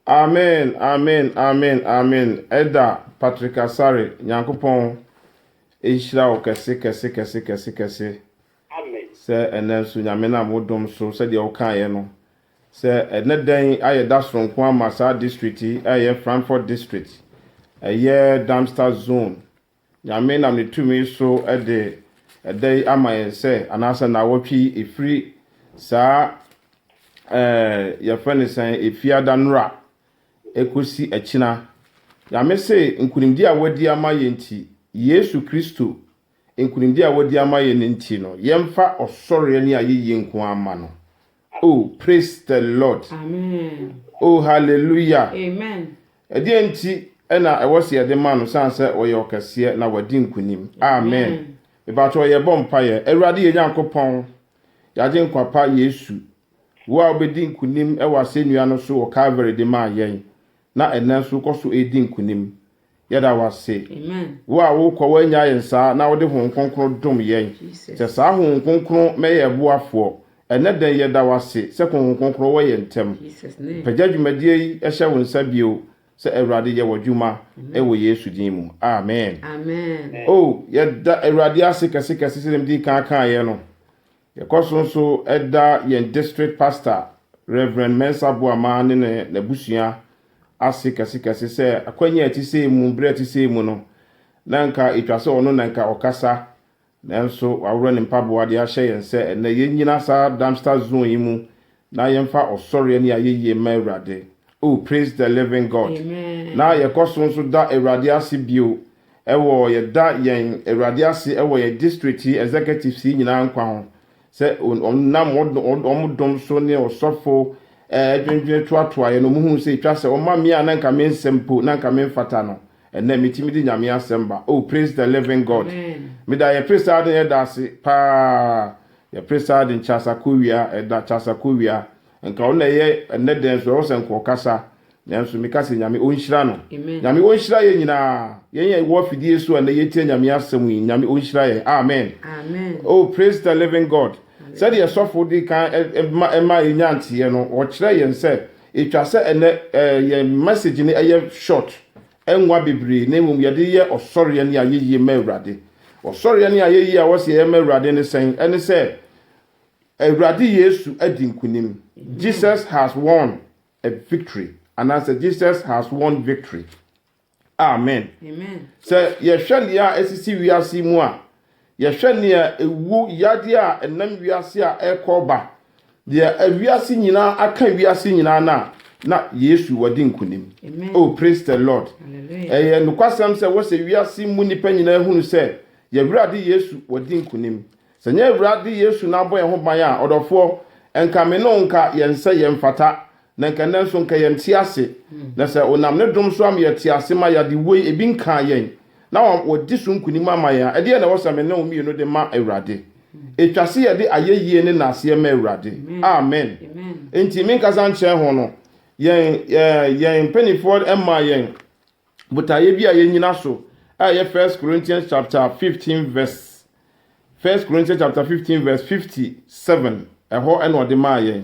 Amen amen amen amen Ɛda Patrick Asare Nyankopɔn nhyira wo kɛse kɛse kɛse kɛse kɛse sɛ ɛnɛ nso Nyame nam wo dom so sɛdeɛ wo kaeɛ no Sɛ ɛnnɛ da yi ayɛ da soronko ama saa district yi a ɛyɛ Frankfurt District, ɛyɛ Darmstadt Zone. Nyame nam ne tumi so de ɛda yi ama yɛn sɛ, anaasɛ nnawɔtwe yi, ɛfiri saa ɛɛ yɛfrɛ no sɛn Efiada nnora ɛkɔsi akyina. Nyame se nkunimdie a wadi ama yɛn nti, Yesu Kristo nkonimdi a wadi ama yɛn no nti no yɛmfa ɔsɔreɛ ne ayeyie nko ara mma no oh praise the lord oh hallelujah amen ɛdeɛn nti na ɛwɔ sɛ yɛde ma no sane sɛ ɔyɛ ɔkɛseɛ na wadi nkonim amen mepakyɛw yɛbɔ mpaeɛ awurade yɛn Nyankopɔn yɛagye nkwa pa Yesu wo a wobɛdi nkonim wɔ asɛnnua no so wɔ Calvary de maa yɛn na ɛnɛ nso wokɔ so ɛredi nkonim Yɛda wo ase. Wo a wokɔ woannya yɛn saa na wode Honhom Kronkron dom yɛn. Sɛ saa Honhom Kronkron mɛ yɛn boafoɔ. Ɛnnɛ dɛn yɛda wo ase sɛ Honhom Kronkron wɔ yɛn ntam. Mpagya dwumadie yi hyɛ wo nsa bio sɛ Awurade yɛ w'adwuma wɔ Yesu din mu. Amen. Oh, yɛda Awurade ase kɛse kɛse sɛdeɛ medii kan kaeɛ no. Yɛkɔ so nso da yɛn district pastor, Rev. Mensah Boamah ne ne n'abusua ase kɛsekɛse sɛ akwannya a ɛte sei mu, bere a ɛte sei mu no, na anka etwa sɛ ɔno na anka ɔkasa, nanso waworɔ ne mpaboa de ahyɛ yɛn sɛ ɛnnɛ yennyina saa Darmstadt zone yi mu Na yɛmfa ɔsɔreɛ ne ayɛyie mma Awurade. Oh, praise the living God. Na yɛkɔ so nso da Awurade ase bio wɔ, yɛda yɛn Awurade ase wɔ yɛn district yi executives yi nyinaa nkwa ho, sɛ wɔnam wɔn dom so ne ɔsɔfo adwendwene toatoaeɛ no, wɔhuu sɛ ɛtwa sɛ wɔma me a na nka me nsɛm mpo, na nka me mfata no, ɛnɛ metumi de Nyame asɛm ba. Oh, praise the living God. Meda yɛn First Arden Elder ase paa Yɛpere saa de nkyasa kowia ɛda kyasa kowia nka wo na ɛyɛ ɛnɛ dɛn so ɛwɔ sɛ nka ɔkasa nanso meka sɛ nyame ɔnhyira no nyame ɔnhyira yɛn nyinaa yɛn yɛ wɔ afidie so ɛnɛ yɛtia nyame asɛm yi nyame ɔnhyira yɛn amen oh praise the living God sɛdeɛ sɔfo de kan ɛma ɛma ɛnya nteɛ no ɔkyerɛ yɛn sɛ ɛtwa sɛ ɛnɛ yɛn message ne ɛyɛ short Ɛnwa bebree, na mmom yɛde yɛ ɔsɔreɛ ne ayɛyie ma Awurade. Ɔsɔreɛ ne ayɛyie a ɛwɔ sɛ yɛyɛ ma Awurade ne sɛn? Ɛne sɛ, Awurade Yesu adi nkonim, Jesus has won a victory, anaasɛ Jesus has won victory. Amen. Sɛ yɛhwɛ nea ɛsisi wiase yi mu a, Yɛhwɛ nea ewu, yadeɛ a ɛnam wiase a ɛrekɔ reba, deɛ awiase nyinaa aka wiase nyinaa no a, na Yesu wadi nkonim. Oh, praise the Lord! Ɛyɛ nokwasɛm sɛ wɔ sɛ wiase mu nnipa nyinaa hunu sɛ yɛn Awurade Yesu wadi nkonim. Sɛ nyɛ Awurade Yesu na abɔ yɛn ho ban a, ɔdɔfoɔ, nka me ne wo nka yɛn sɛ yɛmfata. Na nka nnɛ nso nka yɛn te ase, na sɛ Ɔnam Ne dom so ama yɛte ase ma yɛade woi, ebi nkaa yɛn, na Wadi so nkunim ama yɛn a, ɛdeɛn na ɛwɔ sɛ me ne wo mmienu de ma Awurade? Ɛtwa se yɛde ayɛyie ne naaseɛ ma Awurade. Amen. Enti me nkasa nkyɛn ho no, yɛn, yɛn mpaninfoɔ mmaa yɛn botaeɛ bi a yɛnyina so a ɛyɛ First Corinthians chapter 15 verse First Corinthians chapter 15 verse 57 ɛhɔ ɛna ɔde maa yɛn.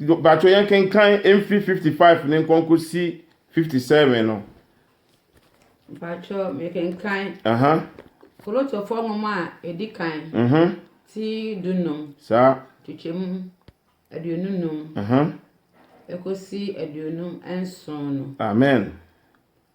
Mpakyɛw yɛnkenkan mfiri fifty five no nkɔ nkɔsi fifty seven no. Mpakyɛw mekenkan. Aha. Korintofo nwoma a edi kan. Mhm. Ti dunum. Saa. Kyekyɛ mu aduonu num. Aha. Ekosi aduonu nson no. Amen.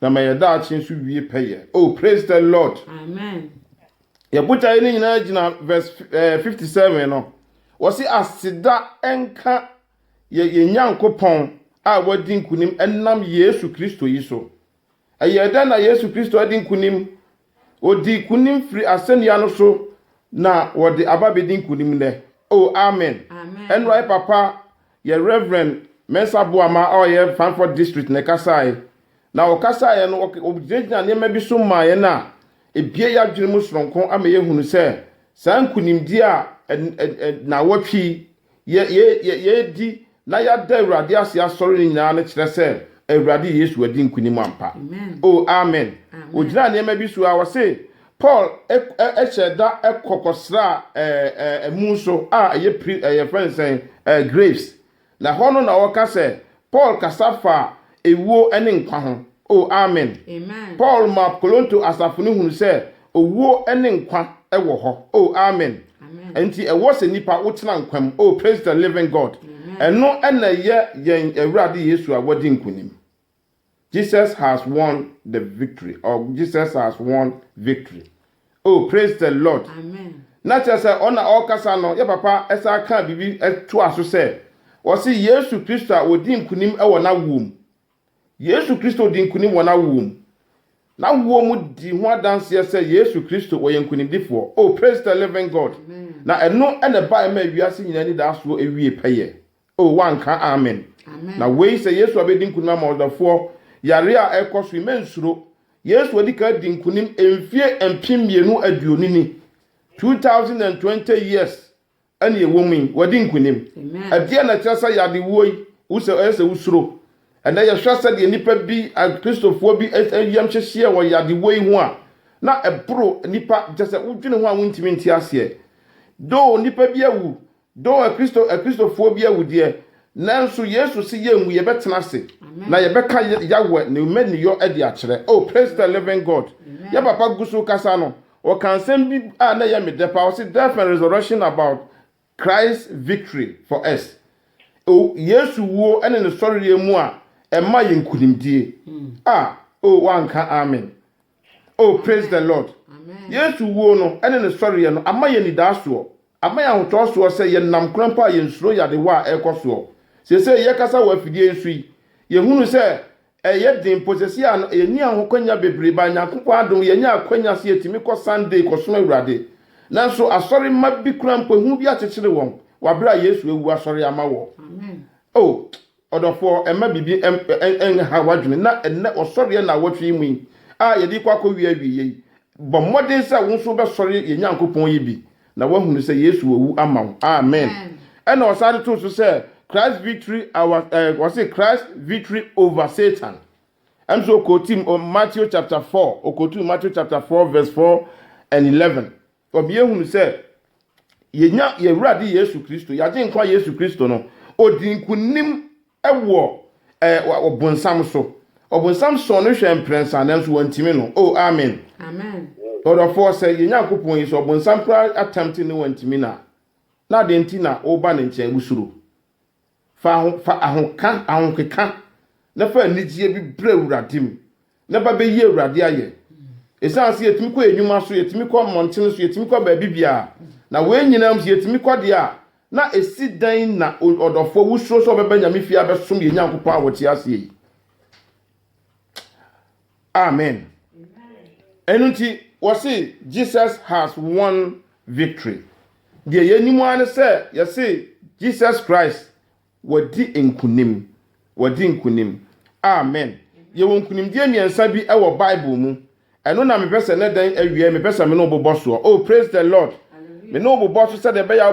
Na ma yɛ daakye nso wie pɛyɛ. Oh praise the Lord. Amen. Yɛ botaeɛ no nyinaa gyina verse eh, 57 no. Wɔsi aseda nka yɛ yɛn Nyankopɔn a wadi nkunim ɛnam Yesu Kristo yi so. Ɛyɛɛ dɛn na Yesu Kristo adi nkunim Ɔdii nkonim firi asɛnnua no so na wɔde aba bɛdi nkonim nnɛ. Oh, amen. Ɛnora papa yɛ Reverend Mensah Boamah a ɔyɛ Fanford District na ɛkasaeɛ. Na ɔkasaeɛ no, ɔgyinagyinaa nneɛma bi so maa yɛn a ɛbue yɛn adwene mu sononko ama yɛhunu sɛ saa nkonimdie a nnawɔtwe yi Yɛ, yɛ, yɛ, yɛadi na yɛada Awurade ase asɔre no nyinaa no kyerɛ sɛ Awurade Yesu adi nkonim ampa. O, amen. Ogyinaa nneɛma bi so a wɔse Paul hyɛɛ da kɔ kɔsraa ɛɛ, ɛɛ, mu so a ɛyɛ pri, ɛɛ, yɛfrɛ no sɛn, ɛɛ, graves. Na hɔ no na ɔka sɛ, Paul kasa faa ewuo ne nkwa ho. O, amen! Paul maa Koronto asafo no hunu sɛ owuo ne nkwa wɔ hɔ. O, amen! Enti ɛwɔ sɛ nnipa wotena nkwa mu. O, praise the living God! Ɛno na ɛyɛ yɛn Awurade Yesu a wadi nkonim. Jesus has won the victory or Jesus has won victory oh praise the Lord Amen. na kyerɛ sɛ ɔna ɔkasa no yɛ papa ɛsa ka biribi ɛtoa so sɛ ɔse Yesu Kristo a ɔdi nkunim wɔ n'awoɔ mu Yesu Kristo di nkunim wɔ n'awoɔ mu n'awoɔ mu di ho adanseɛ sɛ Yesu Kristo ɔyɛ nkunimdifoɔ oh praise the living God Amen. na ɛno ɛna ɛbaeɛ ma wiase nyinaa nidaasoɔ ɛwie pɛyɛ Oh wanka amen na wei sɛ Yesu abɛdi nkunim ama ɔdafoɔ yareɛ a ɛkɔ so yi mɛnsuro Yesu adi ka adi nkunim mfie mpem mmienu aduonu ni 2020 years ɛne ɛwɔ mu yi wadi nkunim ɛdeɛ na ɛkyerɛ sɛ yade wuo yi wosɛ ɛyɛ sɛ wosuro ɛnɛ yɛhwɛ sɛdeɛ nnipa bi akristofoɔ bi yam hyehyeɛ wɔ yade wuo yi ho a na ɛboro nnipa kyɛ sɛ wodwene ho a wontumi nte aseɛ doo nnipa bi awu Dɔ Akristo, Akristofoɔ bi awudeɛ, nanso Yesu se yɛnwu, yɛbɛtena ase, na yɛbɛka Yahweh ne mmaninyɔ adi akyerɛ. Oh, praise the living God! Yɛ papa gu so rekasa no, ɔka nsɛm bi a na ɛyɛ me dɛ paa, ɔse Death and Resurrection about Christ's victory for us. Oh, Yesu wuo ne ne sɔreɛ mu a ɛma yɛn nkunimdie. Ah, oh, woanka amen. Oh, praise the Lord! Yesu wuo no ne ne sɔreɛ no ama yɛn anidaasoɔ. Ama yɛn ahotɔ soɔ sɛ yɛnam kwan pa a yɛnsuro yɛ adehoa a ɛrekɔ soɔ. Seesei yɛkasa wɔ afidie yi so yi, yɛhunu sɛ ɛyɛ den mpo sɛ seesei a no yɛnni ahokwanya bebree but Nyankopɔn adom yɛnya akwanya sɛ yɛtumi kɔ Sunday kɔsom Awurade. Nanso asɔre mma bi koraa mpo ehu bi akyekyere wɔn wɔ aberɛ a Yesu awu asɔre ama wɔ oh! Ɔdɔfoɔ, mma biribi nnhaw w'adwene na ɛnnɛ ɔsɔreɛ nnawɔtwe yi mu yi a yɛde rekɔ akɔwie awieeɛ yi, bɔ mmɔden sɛ wo nso wobɛsɔre yɛn Nyankopɔn yi bi na woahunu sɛ Yesu wawu ama wo. Amen. Ɛnna ɔsan de too so sɛ, Christ's victory our, eh, ɔse Christ's victory over Satan. Ɛm sɛ ɔkootim Matthew chapter 4, ɔkootim Matthew chapter 4 verse 4 and 11. Ɔbea hunu sɛ yɛnya yɛn Awurade Yesu Kristo, yɛagye nkwa Yesu Kristo no, ɔdi nkonim wɔ ɔbonsam so. Ɔbonsam sɔɔ no hwɛ mprɛnsa nanso wantimi no. O, oh, amen. Amen. Ɔdɔfoɔ sɛ yɛn Nyankopɔn yi, sɛ ɔbonsam koraa atɛmte ne wantimi no a, na adɛn nti na woba ne nkyɛn wosuro? Fa aho fa ahoka ahokeka na fa anigyeɛ bi brɛ Awurade mu na ba bɛyi Awurade ayɛ. Ɛsiane sɛ yɛtumi kɔ yɛn nnwuma so, yɛtumi kɔ mmɔntene so, yɛtumi kɔ baabi biara, na wei nyinaa mu sɛ yɛtumi kɔ deɛ a, na ɛsi dɛn na ɔdɔfoɔ wosuro sɛ ɔbɛba Nyame fie abɛsom yɛn Nyankopɔn a ɔte aseɛ yi? amen ɛno nti wɔse jesus has won victory deɛ yɛnim ara ne sɛ yɛse jesus christ wɔdi nkunim wɔdi nkunim amen yɛwɔ nkunimdie mmiɛnsa bi wɔ bible mu ɛno na mepɛ sɛ ne dɛn awie mepɛ sɛ me ne wobobɔ soɔ oh praise the lord me ne wobobɔ so sɛdeɛ ɛbɛyɛ